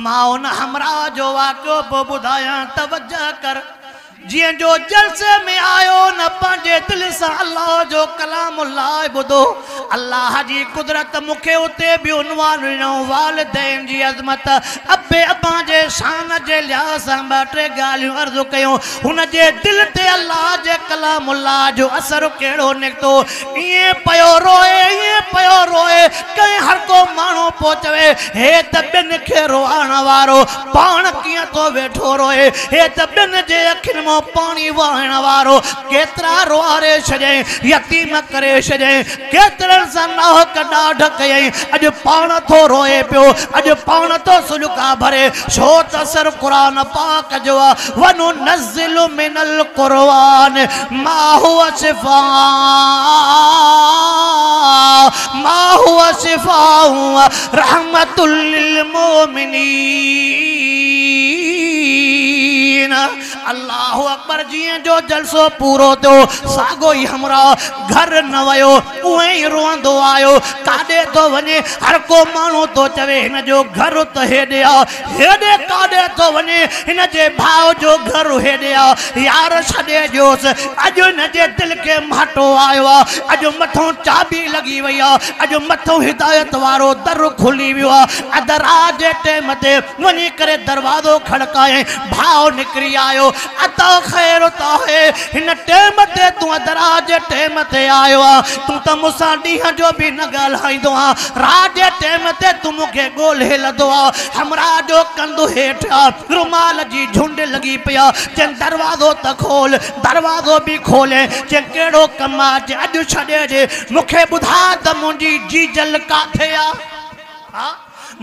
مان ان همراهه جو واقعو به ٻڌايان توجه ڪر، جنهن جو جلسي ۾ آيو نه پنهنجي دل سان الله جو ڪلام الله ٻڌو. الله جي قدرت مون کي اتي به عنوان ڏنو، والدين جي عظمت، اب ابا جي شان جي لحاظ سان ٻه ٽي ڳالهيون عرض ڪيون. هن جي دل تي الله جي ڪلام الله جو اثر ڪهڙو نڪتو. ائين پيو روئي، ائين پيو روئي، ڪنهن هرڪو ماڻهو پيو چوي، هي ته ٻين کي روئائڻ وارو، پاڻ ڪيئن ٿو ويٺو روئي، هي ته ٻين جي اکين مان پاڻي وهائڻ وارو، ڪيترا روئاري ڇڏيائين، يتيم ڪري ڇڏيائين، ڪيترن سان ناحق ڏاڍ ڪيائين، اڄ پاڻ ٿو روئي پيو، اڄ پاڻ ٿو سڏڪا ڀري، ڇو ته سر قرآن پاڪ جو آ، وننزّل. انزل من القرآن ما هو شفاء ما هو شفاء رحمت للمؤمنين الله اڪبر جيئن جو جلسو پورو ٿيو ساڳو ئي همراهه گهر نه ويو اونئي ئي روئندو آيو ڪاڏي ٿو وڃي هر ڪو ماڻهو ٿو چوي هن جو گهر ته هيڏي آ هيڏي ڪاڏي ٿو وڃي؟ هن جي ڀاء جو گهر هيڏي آ. يار ڇڏي ڏيوس. اڄ هن جي دل کي مهاٽو آيو آ. اڄ مٿون چاٻي لڳي وئي آ. اڄ مٿون هدايت وارو در کلي ويو آ. اڌ رات جي ٽيم تي وڃي ڪري دروازو کڙڪايائين. ڀاء نڪري آيو. عطا خير عطا هي هن ٽيم تي تون ادرار جي ٽيم تي آيو آ تون ته مون سان ڏينهن جو به نه ڳالهائيندو آ رات جي ٽيم تي تون مون کي ڳولهي لڌو آ همراهه جو ڪنڌ هيٺ آ رومال جي جهنڊ لڳي پئي آ چين دروازو ته کول دروازو به کولي چين ڪهڙو ڪم آ چين اڄ ڇڏي ڏي مون کي ٻڌاء ته منهنجي جيجل ڪاٿي آ.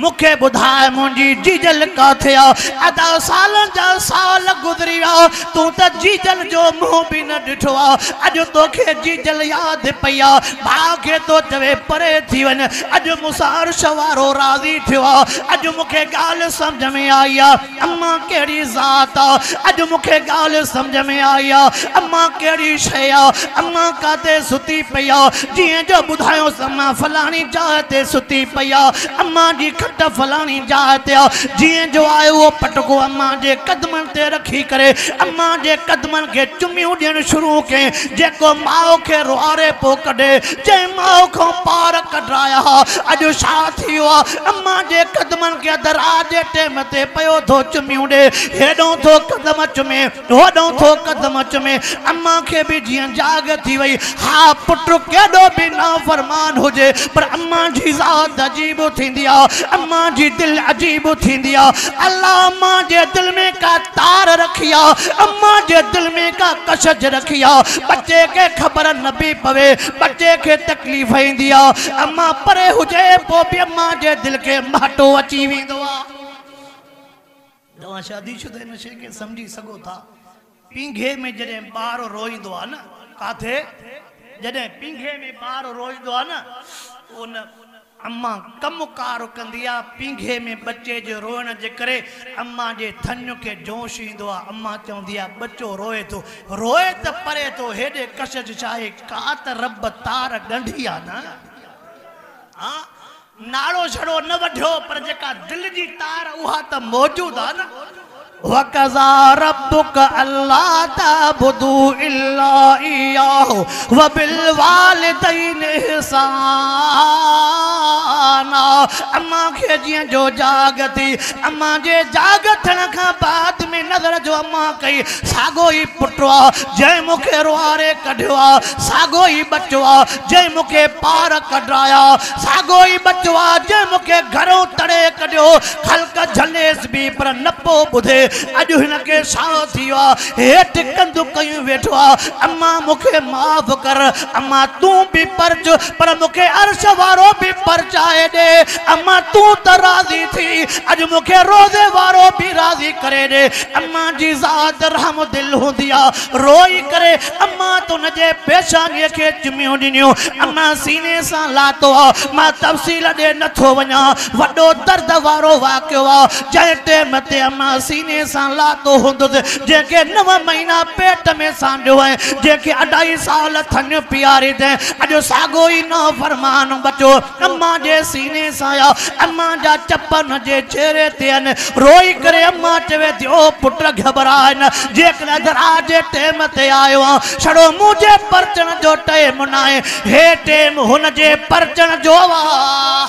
مون کي ٻڌاء منهنجي جيجل ڪاٿي آ؟ ادا سالن جا سال گذري ويا تون ته جيجل جو منهن به نه ڏٺو آ اڄ توکي جيجل ياد پئي آ ڀاء کي ٿو چوي پري ٿي وڃ اڄ مون سان عرش وارو راضي ٿيو آ اڄ مون کي ڳالهه سمجهه ۾ آئي آ. اما ڪهڙي ذات آ؟ اڄ مون کي ڳالهه سمجهه ۾ آئي آ. اما ڪهڙي شيء آ؟ اما ڪاتي ستي پئي آ؟ جيئن جو ٻڌايوس اما فلاڻي جاء تي ستي پئي آ. اما جي کٽ فلاڻي جاء تي آ. جيئن جو آء اهو پٽڪو اما جي قدمن تي رکي ڪري اما جي قدمن کي چميون ڏيڻ شروع ڪيم جيڪو ماء کي روئاري پيو ڪڍي. جنهن ماء کان پار ڪڍرايا ها اڄ ڇا ٿي ويو آ؟ امان جي قدمن کي ادر آ جي ٽيم تي پيو ٿو چميون ڏي هيڏئون ٿو قدم چمي هوڏئون ٿو قدم چمي امان کي به جيئن جاڳ ٿي وئي ها پٽ ڪيڏو به نافرمان هجي پر امان جي ذات عجيب ٿيندي آ امان جي دل عجيب ٿيندي آ الله امان جي دل ۾ ڪا تار رکي آ امان جي دل ۾ ڪا ڪشش رکي آ ٻچي کي خبر نه به پوي ٻچي کي تڪليف ايندي آ ته اما پري هجي پوء به اما جي دل کي مهٽو اچي ويندو آ. توهان شادي شده هن شيء کي سمجهي سگهو ٿا. پينگهي ۾ جڏهن ٻار روئيندو آ نه. ڪاٿي؟ جڏهن پينگهي ۾ ٻار روئيندو آ نه پوء ان اما ڪم ڪار ڪندي آ. پينگهي ۾ ٻچي جي روئڻ جي ڪري اما جي ٿڃ کي جوش ايندو آ. اما چوندي آ ٻچو روئي ٿو. روئي ته پري ٿو هيڏي ڪشش شاهي ڪا ته رب تار ڳنڍي آ نه ها ناڙو جھڙو نه وڍيو پر جيڪا دل جي تار اها ته موجود آ نه وقضا ربک الا تعبدو الا اياه وبالوالدين احسانا اما کي جيئن جو جاڳ ٿي اما جي جاڳ ٿيڻ کان بعد ۾ نظر جو اما ڪئي ساڳو ئي پٽ آ، جنهن مون کي روئاري ڪڍيو آ، ساڳو ئي ٻچو آ، جنهن مون کي پار ڪڍرايا، ساڳو ئي ٻچو آ، جنهن مون کي گهرئون تڙي ڪڍيو. خلق جهليس به پر نه پئو ٻڌي. اڄ هن کي ساهه ٿي ويو آ، هيٺ ڪنڌ ڪيون ويٺو آ، امان مون کي معاف ڪر، امان تون به پرچ، پر مون کي عرش وارو به پرچائي ڏي، امان تون ته راضي ٿي، اڄ مون کي روضي وارو به راضي ڪري ڏي. امان جي ذات رحم دل هوندي آ. روئي ڪري امان تون جي پيشانيء کي چميون ڏنيون. امان سيني سان لاتو آ. مان تفصيل ڏي نه ٿو وڃان. وڏو درد وارو واقعو آ. جنهن ٽيم تي امان سيني سان لاتو هوندس، جنهن کي نو مهينا پيٽ ۾ سانڍيو ۽ جنهن کي اڍائي سال ٿڃ پياري تنهن اڄ ساڳيو ئي نافرمان ٻچو امان جي سيني سان يا امان جا چپ هن جي چهري تي آهن. روئي ڪري امان چوي ٿي، او پٽ گهٻراء نه، جيڪڏهن اڌ رات جي ٽيم تي آيو آهن، ڇڙو منهنجي پرچڻ جو ٽيم ناهي. هي ٽيم هن جي پرچڻ جو آهي.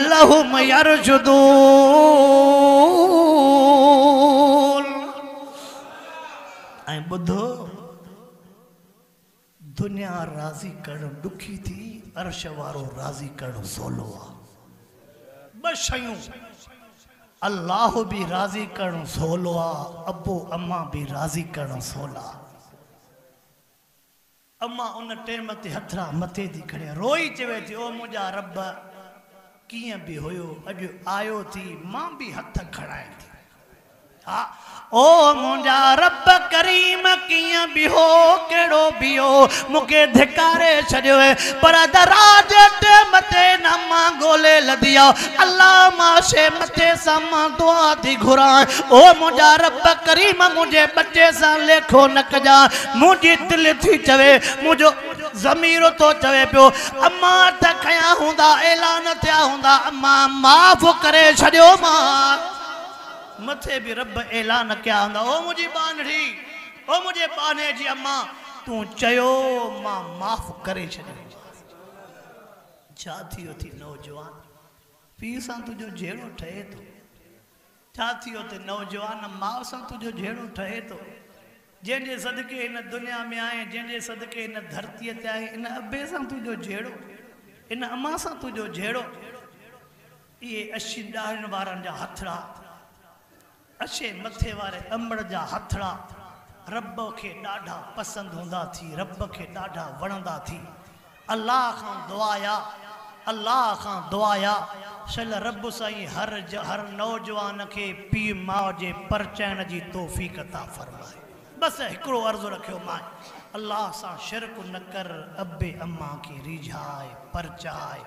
لهم يرجدون ۽ ٻڌو دنيا راضي ڪرڻ ڏکي ٿي عرش وارو راضي ڪرڻ سولو آ ٻه شيون الله به راضي ڪرڻ سولو آ ابو اما به راضي ڪرڻ سولا. امان ان ٽيم تي هٿڙا مٿي ٿي کڻي روئي چوي ٿي او منهنجا رب ڪيئن به هيو اڄ آيو ٿي مان به هٿ کڻائين ٿي ها او منهنجا رب ڪريم ڪيئن به هو ڪهڙو به هو مون کي ڌڪاري ڇڏيو هي پر ادا رات جي ٽيم تي نه مان ڳولي لڌي آ الله مان شي مٿي سان مان دعا ٿي گهران او منهنجا رب ڪريم منهنجي ٻچي سان ليکو نه ڪجان منهنجي دل ٿي چوي، منهنجو ضمير ٿو چوي پيو، امان ته کنيا هوندا، اعلان ٿيا هوندا، امان معاف ڪري ڇڏيومان. مٿي به رب اعلان ڪيا هوندا، او منهنجي ٻانهڙي، او منهنجي ٻانهي جي امان، تون چيو مان معاف ڪري ڇڏيومانس. ڇا ٿيو اٿي نوجوان، پيء سان تنهنجو جهيڙو ٺهي ٿو. ڇا ٿيو ته نوجوان ماء سان تنهنجو جهيڙو ٺهي ٿو، جنهن جي صدقي هن دنيا ۾ آهين، جنهن جي صدقي هن ڌرتيء تي آهين، ان ابي سان تنهنجو جهيڙو، ان امان سان تنهنجو جهيڙو، اهي اشين ڏاهرين وارن جا هٿڙا، اشين مٿي واري امڙ جا هٿڙا رب کي ڏاڍا پسند هوندا ٿي، رب کي ڏاڍا وڻندا ٿي. الله کان دعايا الله کان دعايا سل رب سائين هر هر نوجوان کي پي ماء جي پرچائڻ جي توفيق عطا فرمائي بس هڪڙو عرض رکيو مان الله سان شرڪ نه ڪر ابي امان کي ريجهاء پرچاء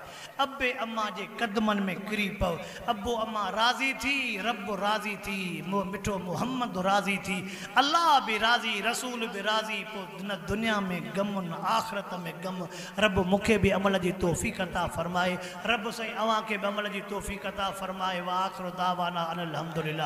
ابي امان جي قدمن ۾ ڪري پئو. ابو امان راضي ٿي، رب راضي ٿي، مون مٺو محمد راضي ٿي، الله به راضي، رسول به راضي، پو نه دنيا ۾ غم نه آخرت ۾ غم، رب مون کي به عمل جي توفيق عطا فرمائي، رب سائين اوهان کي به عمل جي توفيق عطا فرمائي، واخر دعوانا ان الحمدلله.